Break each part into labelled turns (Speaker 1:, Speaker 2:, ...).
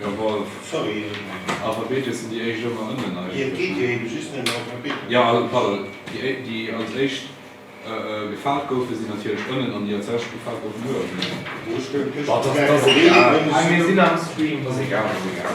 Speaker 1: Jawol, sorry,
Speaker 2: Alphabete
Speaker 1: sinn déi éischt ëmmer ënnen eigentlech,
Speaker 2: ne? Jo, also pardon,
Speaker 1: déi éischt, déi als éischt gefaalt goufen, sinn natierlech ënnen, an déi als lescht gefaalt goufen, uewen, ne? Bon,
Speaker 3: dat ass egal, mä mir sinn am Stream, dat ass egal, dat ass egal.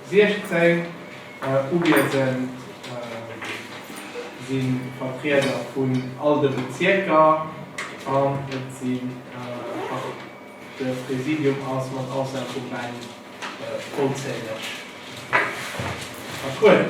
Speaker 3: 16 uwiesend si Vertrieder vun all de Bezierker an et si de Präsidium ass mat Ausnam vum Ben vollzähleg vertrueden.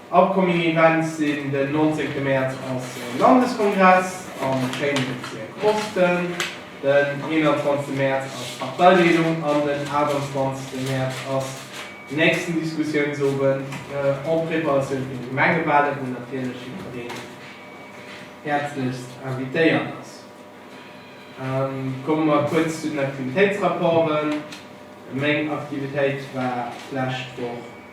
Speaker 3: Upcoming Events sinn den 19 Mäerz onse Landeskongress am schéine Bezierk Osten, den 21 Mäerz ass Parteileedung an den 28 Mäerz ass nächsten Diskussiounsowend en préparatioun fir de Gemengewahle wou natierlech jidfereen häerzlechst invitéiert ass. Komme mer kuerz zu den Aktivitéitsrapporten. Meng Aktivitéit war d'lescht Woch.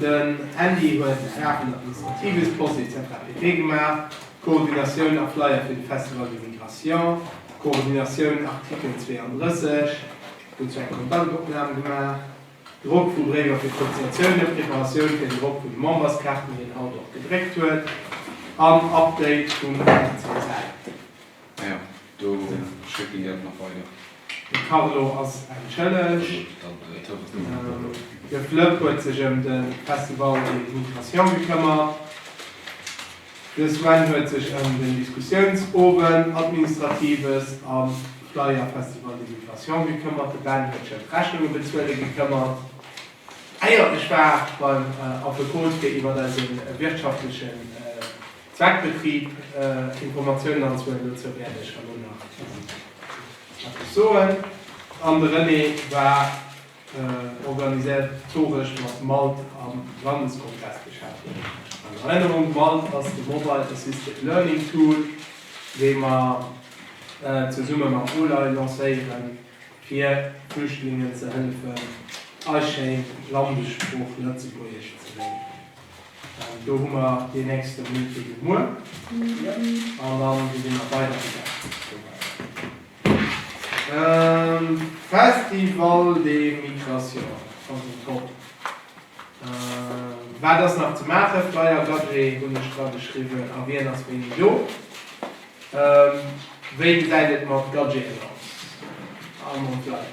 Speaker 3: Den Andy huet Sachen administratives, Post etc pp gemaach, Koordinatioun a Flyer fir de Festival de Migration, Koordinatioun Artikel 32, huet sou eng Kontaktopnam gemaach, Drock vu Bréiwer fir d'Cotisatiounen, Preparatioun fir den Drock vun de Memberskaarten, déi en haut och gedréckt huet, an Update vum Festival. Majo,
Speaker 1: do schéckt een déi awer nach weider. De Carlo
Speaker 3: ass entschëllegt. De Flëpp huet sech ëm de Festival et Migration gekëmmert. De Sven huet sech ëm den Diskussiounsowend, Administratives a Flyer Festival et Migration gekëmmert. De Ben huet sech ëm d'Rechnunge bezuele gekëmmert, éier ech war beim Affekot fir iwwer eise wirtschaftleche. Zweckbetrib, Informatiounen an Zuelen, dozou wäert ech herno nach eppes soen. An de René war organisatoresch mat Malt am Landeskongress beschäftegt. An Erënnerung, Malt ass de Mobile Assisted Learning Tool, dee mer zesumme mam OLAI lancéieren, fir Flüchtlingen ze hëllefen, eis schéin Landessprooch Lëtzebuergesch ze léieren. Do hu mer deen nächste Meeting muer an da si mer weidergegaangen. Festival de Migration, schonn den Top. Wat ass nach ze maachen? Flyer Gagé hunn ech dra geschriwwen a wien ass wéini do? Wéi gesäit et mat Gagéen aus a mam Flyer?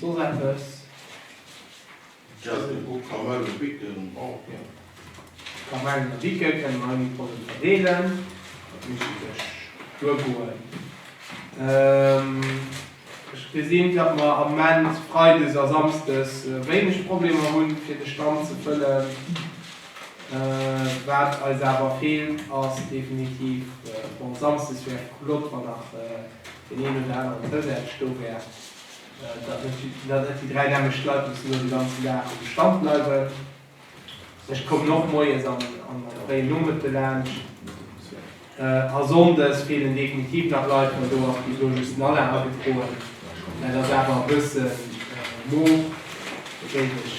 Speaker 3: Soss eppes?
Speaker 2: D'Jazzy Book Kamel a Bicke brauch keen.
Speaker 3: Kamellen a Bicke kënne mer ënnert Produkt verdeelen. Dat misst ee sech duergoen. Ech gesinn, datt mer am Moment freides a samsdes wéineg Problemer hunn, fir de Stand ze fëllen. Waat eis awer fehlt ass definitiv, bon Samsdes wär flott wann nach deen een oder aneren Zousätzeg do wär, datt net déi 3 nämmlecht Leit mussen elo de ganzen Daag um Stand bleiwen. Ech kommen och moies an am fréien Nomëtte laanscht. A Sonndes fehlen definitiv nach Leit, well do ass bis elo just den Alain agefroen. Dat ass awer e bëssen moof, dat géif ech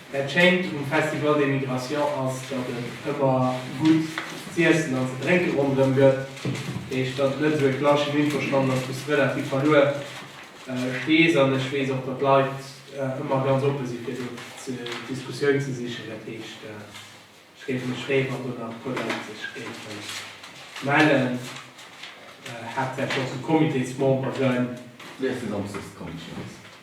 Speaker 3: Dat Schéint um Festival des Migrations ass, datt et ëmmer gutt z'iessen an ze drénke ronderëm gëtt. Eech, datt et net esou e klassischen Infostand ass, wou s de relativ verluer stees. An ech weess och, datt d'Leit ëmmer ganz oppe si fir do d'Diskussioun ze sichen. Dat heescht, ech géif mech freeë wann do nach e puer Leit sech géife mellen, haaptsächlech och esou Comitésmemberen. Wéi ass de Samschdes
Speaker 4: d'Commission?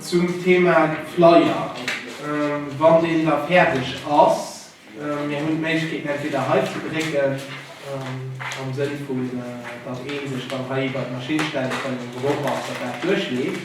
Speaker 3: Zum Thema Flyer, wann deen da fäerdeg ass, mir hunn d'Méiglechkeet entweder hei ze drécken, am Sënn vun datt ee sech dann hei iwwert d'Maschinn stellt, wann en Geruch ass, datt dat duerchleeft.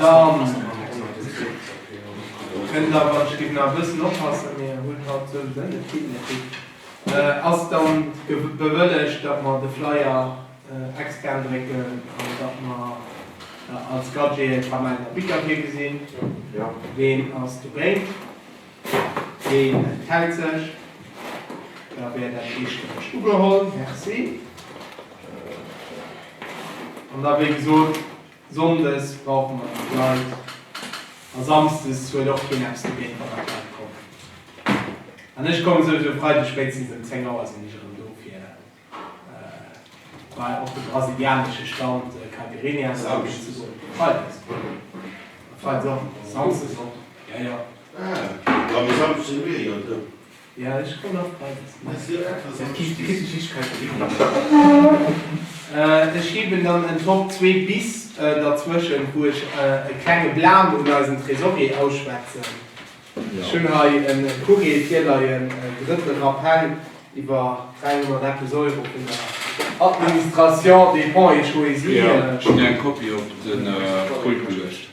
Speaker 3: Dann kënnt da, wann ech géif nach e bëssen oppassen, mee hunn haut souwisou net vill méi Tipp, ass dann bewëllegt, datt mer de Flyer extern drécken an datt mer als Gadget e Kamäiner Bickertee gesinn. Ween
Speaker 5: ass de
Speaker 3: Brain? Ween enthält sech? Da wär dat eestëmmeg ugeholl. Merci. An da wéi gesot. Sonndes brauche mer nach Leit a Samsdes huet och keen eppes dogéint, wann nach Leit kommen. An ech komme souwisou Freideg spéitstens ëm 10 Auer sinn ech erëm do fir bei op de brasilianesche Stand Caipirinha lauschten ze goen. Freides a Freides och, Samsdes och, jo jo. Ah, da
Speaker 2: Samsdes sinn mir jo do.
Speaker 3: Ech heewen dann en Top 2 bis derzwëschent, wou ech e klenge Blam un eisen Trésorier ausschwätzen. Ech hunn hei e Courrier virleien, e drëtte Rappell iwwer 300 eppes Euro vun der Administration des Fonds et Choisis. Ech hunn eng Kopie op
Speaker 1: de Pult geluecht.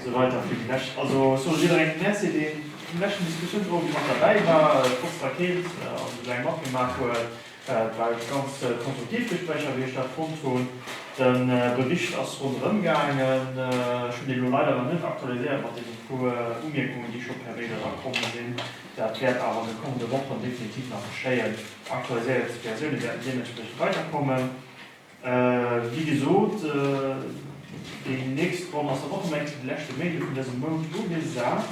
Speaker 5: Esou weider fir déi lescht. Also ech soe jidderengem Merci, deen vum leschten Diskussiounsowend mat derbäi war, trotz der Keelt, an esou laang matgemaach huet. Et war iwwregens ganz konstruktiv Gespréicher, wéi ech dat fonnt hunn. De Bericht ass ronderëm gaangen. Ech hunn deen elo leider nach net aktualiséiert mat deenen puer Umierkungen, déi scho per Mail erakomm sinn. Dat wäert awer an de kommende Wochen definitiv nach geschéien. Aktualiséiert Versioune wäerten deementspriechend weiderkommen. Wéi gesot, déi nächst Ronn ass dann och um enk de leschte Méindeg vun dësem Mount ugesat.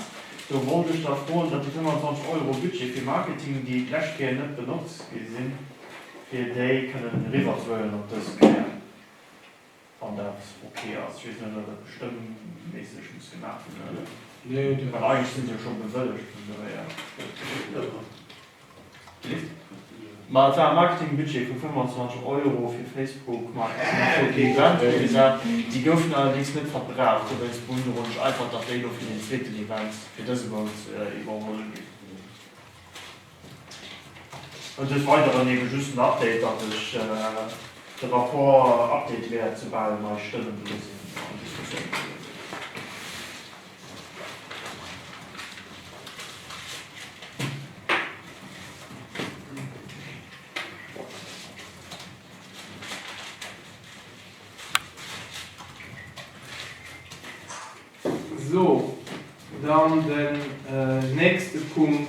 Speaker 5: Do wollt ech da froen, datt déi 25 Euro Budget fir Marketing, déi d'lescht Kéier net benotzt gi sinn, fir déi kënnen eriwwerzuhuelen op dës Kéier, wann dat ok ass. Ech weess net, ob dat bestëmmméisseg muss gemaach ginn, well eigentlech si se jo scho bewëllegt vun dohier. Ma et war e Marketingbudget vu 25 Euro fir Facebook mat Promotion fir Event ugesat. Déi goufen allerdéngs net verbraucht, souwéinst Brune Ronich eifert, datt déi elo fir den zweeten Event fir dëse Mount iwwerholl ginn. An des Weideren eben just den Update, datt ech de Rapport update wäert, soubal nei Stëmmen do sinn an Diskussioune gewiescht sinn.
Speaker 3: Sou, dann den nächste Punkt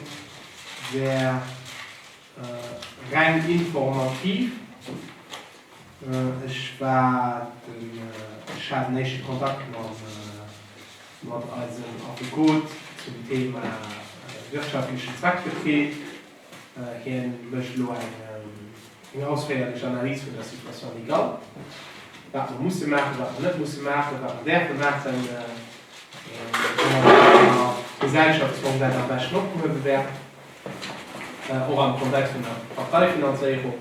Speaker 3: wär Reng informativ. Ech war den, ech hat den éischte Kontakt mat eisem Affekot zum Thema wirtschaftlechen Zweckbetrib. Hien mécht elo eng ausféierlech Analys vun der Situation légale, wat mer musse maachen, wat mer net musse maachen, wat mer däerfe maachen, wéi eng Gesellschaftsform dat am beschten opgehuewe wär. och am Kontext vun der Parteifinanzéierung.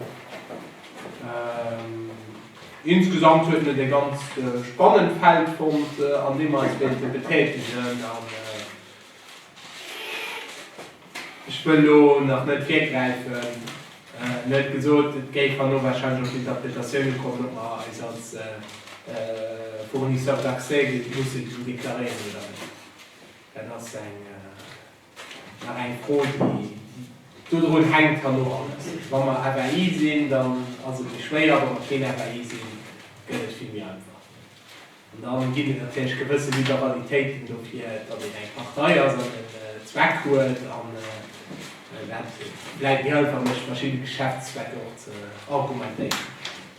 Speaker 3: Insgesamt huet net e ganz spannend Feld fonnt, an deem mer eis wéilte betätegen. An ech wëll elo nach net virgräifen. Mir huet gesot, et géif herno warscheinlech och d'Interpretatioune kommen, ob mer eis als Fournisseur d'accès géife musse deklaréieren oder net. Dat ass eng. Nach eng Fro, déi dodrun hänkt, kann och alles. Wa mer FAI sinn, dann ass et méi schwéier, wa mer keen FAI sinn, gëtt et vill méi einfach. An dann ginn et natierlech gewësse Liberalitéiten dofir, datt een eng Partei ass an en Zweck huet. An dat bleift méi einfach, méi verschidde Geschäftszwecke och ze argumentéieren.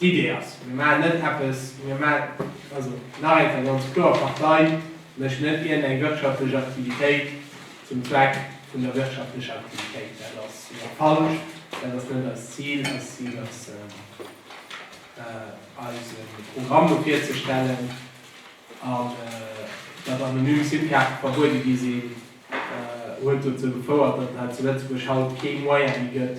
Speaker 3: Idee ass, mir maachen net eppes, mir maachen, also nach eng Kéier ganz kloer, d'Partei mécht net iergendeng wirtschaftlech Aktivitéit zum Zweck vun der wirtschaftlecher Aktivitéit. Dat ass falsch, dat ass net eist Zil. Eist Zil ass, eise Programm do virzestellen an datt anonym SIM-Kaarte verbuede gi sinn, huet dozou gefouert, datt et hei zu Lëtzebuerg haut kee Moyen méi gëtt,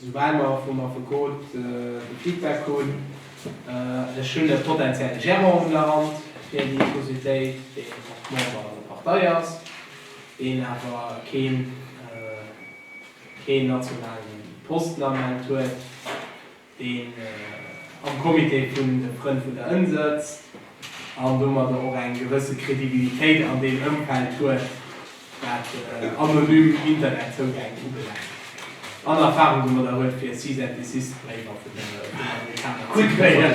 Speaker 3: Soubal mer vum Affekot de Feedback hunn, ech hunn e potentielle Gérant un der Hand fir déi Societéit, deen och Member an der Partei ass, deen awer keen nationale Posten am Moment huet, deen am Comité vun de Frënn vun der Ënn sëtzt an domadder och eng gewësse Credibilitéit an deem Ëmfeld huet, wat anonym Internetzougäng ubelaangt, an Erfahrung domadder huet, fir Cease-and-Desist-Bréiwer vun den Amerikaner ze kréien.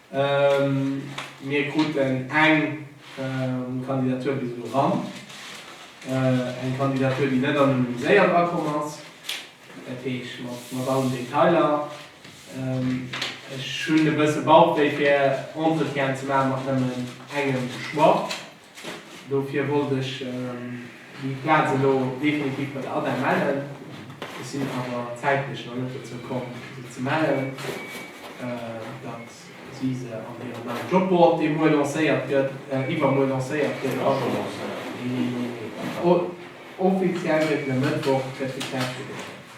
Speaker 3: Mir kruten eng Kandidatur bis elo eran, eng Kandidatur, déi net anonymiséiert akomm ass, dat heescht mat allen Detailer. Ech hunn e bësse Bauchwéi, fir Entretienn ze maachen mat nëmmen engem Choix. Dofir wollt ech déi Plaz elo definitiv bei der ADEM mellen. Ech sinn awer zäitlech nach net dozou komm, se ze mellen, datt si se an hirem neien Jobboard, dee muer lancéiert gëtt, iwwermuer lancéiert gëtt, offiziell gëtt en e Mëttwoch, gëtt getäscht.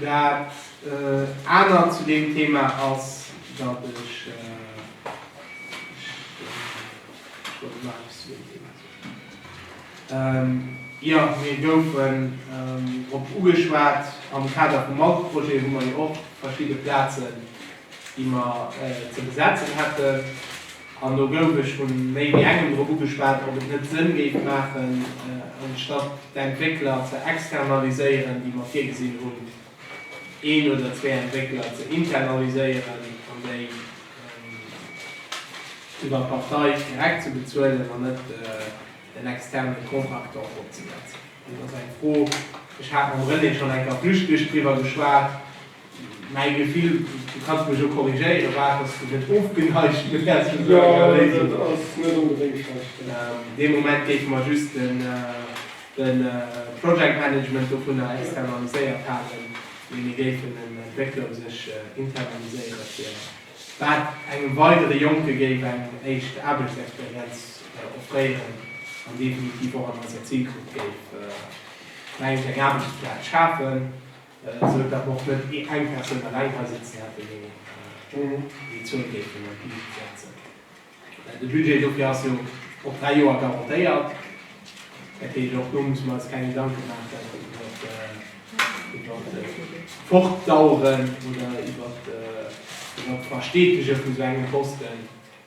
Speaker 3: Dat anert zu deem Thema ass, datt ech, ech wollt elo nach eppes zu deem Thema soen, jo, mir goufen drop ugeschwat am Kader vum Autoprojet, hu mer jo och verschidde Plazen déi mer ze besetzen hätten, an do gouf ech vu méi wéi engem drop ugeschwat, ob et net Sënn géif maachen, anstatt d'Entwéckler ze externaliséieren, déi mer virgesinn hunn, een oder zwee Entwéckler ze internaliséieren an déi iwwer d'Partei direkt ze bezuelen an net en externe Contractant opzesetzen. Dat ass eng Fro, ech hat mam René schonn eng Kéier flüchtlech driwwer geschwat. Mäi Gefill, du kanns mech jo korrigéieren, war, et ass net ofgeneigt, mee dat ass jo eng Léisung. Jo, dat ass net onbedéngt
Speaker 6: schlecht, jo. Dee Moment
Speaker 3: géife mer just de Project Management dovunner externaliséiert halen, mee mir géifen en Entwéckler u sech internaliséieren, fir dat engem weidere Jonke géif eng éischt Aarbechtsexperienz offréieren an definitiv och an eiser Zilgrupp géif, mengen ech, eng Aarbechtsplaz schafen. Esou datt mer och net eng Persoun eleng hei sitzen hätten, déi déi Zuel géif an d'Luucht setzen. De Budget dofir ass jo op dräi Joer garantéiert. Dat heescht, och do musse mer eis keng Gedanke maachen iwwer d'Fortdaueren oder iwwer d'Versteetege vun esou engem Posten.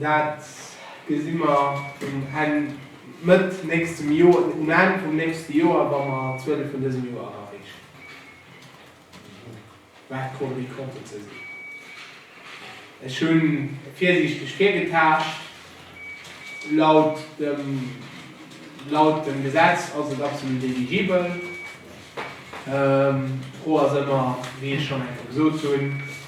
Speaker 3: Dat gesi mer um Enn, Mëtt nächstem Joer, um Enn vum nächste Joer, wa mer d'Zuele vun dësem Joer erareechen, wat d'Cours des comptes ze sinn. Ech hu virsiichteg virgetaascht. Laut dem, laut dem Gesetz ass et absolut eligibel. D'Fro ass ëmmer, wéi ech schonn eng Kéier gesot hunn,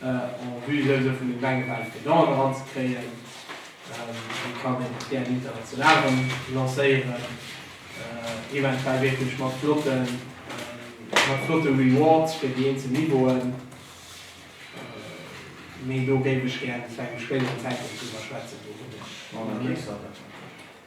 Speaker 3: En vue souwisou vun den Wänge bal fir Don eran ze kréien. Déi kann een och gär international erëm lancéieren, eventuell wierklech mat flotte Rewards fir déi eenzel Niveauen. Mee do géif ech gär zu engem spéideren Zäitpunkt driwwer schwätzen. Do hunn ech nach net.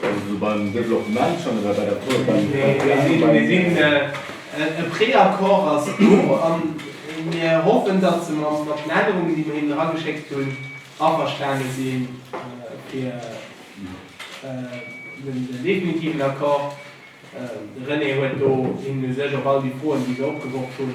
Speaker 4: Wa se esou beim Développement schonn oder bei der Tour beim Développement
Speaker 3: sinn. E Préaccord ass do a mir hoffen, datt se mat den Ännerungen, déi mir hinnen erageschéckt hunn, averstane si fir den definitiven Accord. De René huet do hinnen u sech op all déi Froen, déi se opgeworf hunn,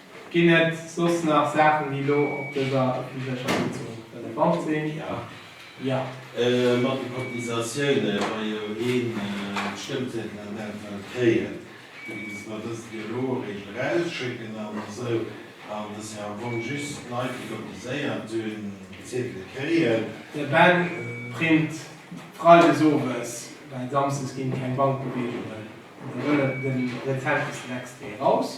Speaker 3: Ginn et soss nach Saachen, déi elo op dëser ëffentlecher Sitzung relevant sinn? Jo. Jo. Mat de
Speaker 2: Cotisatioune wa jo ee Stëmmzétel an dat Fall kréien, da ginn, datt mer dëst jo elo eréischt erausschécken an esou, an datt jo am Fong just d'Leit, déi cotiséiert hunn, d'Zetele kréien. De Ben
Speaker 3: print freides owes, well samsdes ginn keng Bankbeweegungen, da wëll en den rezentesten Extrait eraus.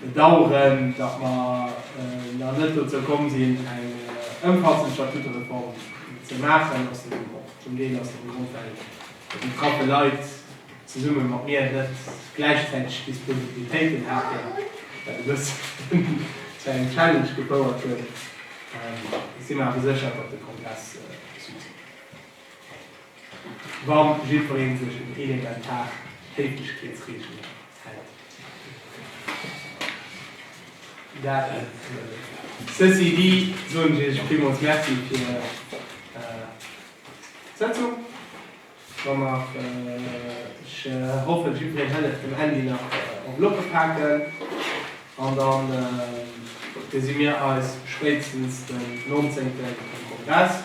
Speaker 3: bedauern, datt mer nach net dozou komm sinn, eng ëmfassend Statutereform ze maachen, ass den och zum Deel aus deem Grond, well déi betraffe Leit zesumme mat mir net gläichzäiteg d'Disponibilitéiten haten, wat e bëssen zu engem Challenge gefouert huet. Ech si mer awer sécher, datt de Kongress Succès huet. wa jiddweree sech un elementar Péiteschkeetsreegelen hält. Dat nëmmen. Ceci dit, soen ech Iech villmools Merci fir d'Sëtzung. Wa mer, ech hoffen, jiddwereen hëlt et dem Handy nach op locke paken. An dann gesi mir eis spéitstens den 19 um Kongress.